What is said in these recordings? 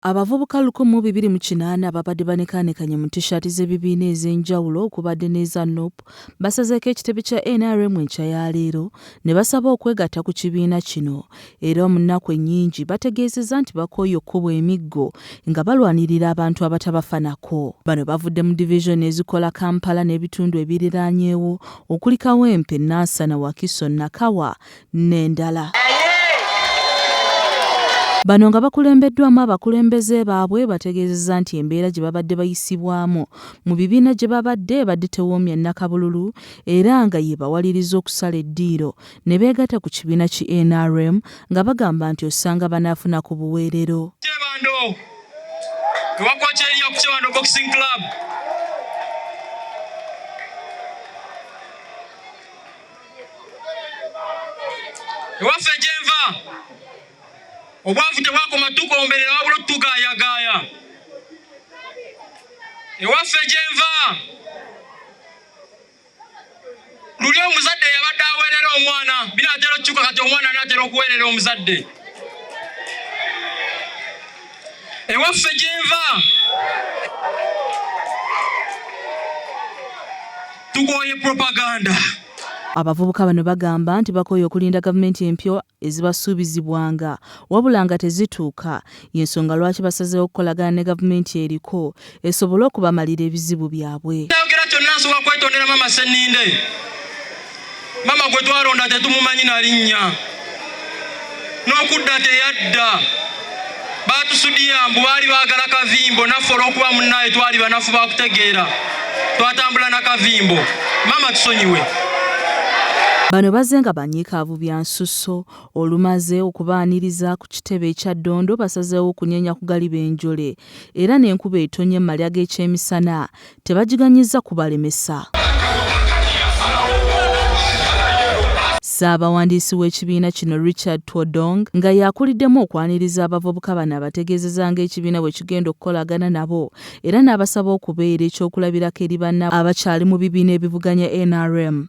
Abavubuka lukumi mu bibiri mu kinaana ababadde banekaanekanye mu tishaati z'ebibiina ez'enjawulo okubadde n'eza nup basazeeko ekitebe kya nrm enkya ya leero ne basaba okwegatta ku kibiina kino era mu nnaku ennyingi bategeezezza nti bakooye okukubwa emiggo nga balwanirira abantu abatabafanako bano bavudde mu divizoni ezikola kampala n'ebitundu ebiriraanyeewo okuli kawempe nansana wakiso nakawa n'endala. Bano nga bakulembeddwamu abakulembeze baabwe bategeezezza nti embeera gye babadde bayisibwamu mu bibiina gye babadde ebadde tewoomya nnakabululu era nga yeebawaliriza okusala eddiiro ne beegatta ku kibiina ki nrm nga bagamba nti osanga banaafuna ku buweerero. ewaffe gyenva obwavu tebwakoma tukomberera wabula otugaayagaaya ewaffe gyenva luli omuzadde yabadde aweerera omwana binaatera okukyuka kati omwana anaatera okuweerera omuzadde ewaffe gyenva tukoye propaganda Abavubuka bano bagamba nti bakooye okulinda gavumenti empya ezibasuubizibwanga wabula nga tezituuka y'ensonga lwaki basazeewo okukolagana ne gavumenti eriko esobole okubamalira ebizibu byabwe. Ayogera kyonna nsobola kwetondera mama Senninde. Mama gwe twalonda tetumumanyi na linnya, n'okudda teyadda. Baatusudiya mbu baali baagala kavimbo, naffe olw'okuba munnaye twali banafu ba kutegeera, twatambula na kavimbo. Mama tusonyiwe. Bano bazze nga banyiikaavu bya nsusso olumaze okubaaniriza ku kitebe ekya Ddondo basazeewo okunyeenya ku galiba enjole era n'enkuba etonnya mu malya g'ekyemisana tebagiganyizza kubalemesa. Ssaabawandiisi w'ekibiina kino Richard Twodong nga y'akuliddemu okwaniriza abavubuka bano abategeezeza ng'ekibiina bwe kigenda okukolagana nabo era n'abasaba okubeera ekyokulabirako eri banna abakyali mu bibiina ebivuganya nrm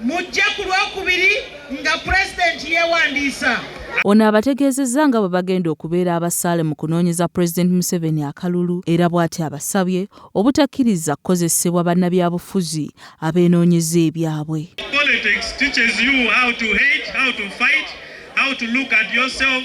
mujje ku lwokubiri nga pulezidenti yeewandiisa. Ono abategeezezza nga bwe bagenda okubeera abasaale mu kunoonyeza Pulezidenti Museveni akalulu era bw'ati abasabye obutakkiriza kukozesebwa bannabyabufuzi abeenoonyeza ebyabwe. Politics teaches you how to hate, how to fight, how to look at yourself.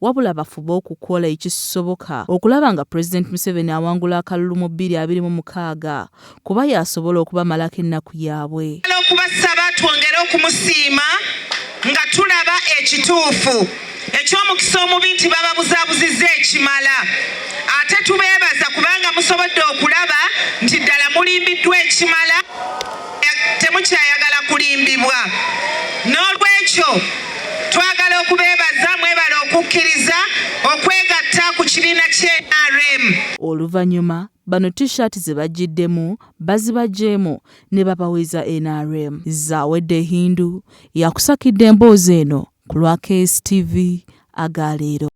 wabula bafube okukola ekisoboka okulaba nga Pulezidenti Museveni awangula akalulu mu bbiri abiri mu mukaaga kuba y'asobola okubamalako ennaku yaabwe. okubasaba twongere okumusiima nga tulaba ekituufu eky'omukisa omubi nti bababuzabuzizza ekimala ate tubeebaza kubanga musobodde okulaba nti ddala mulimbiddwa ekimala. temukyayagala kulimbibwa n'olwekyo twagala okubeebaza mwebale okukkiriza okwegatta ku kibiina kye nrm oluvannyuma bano t-shirt ze bajjiddemu bazibajjeemu ne babaweza nrm zawedde hindu yakusakidde emboozi eno ku lwa kstv aga leero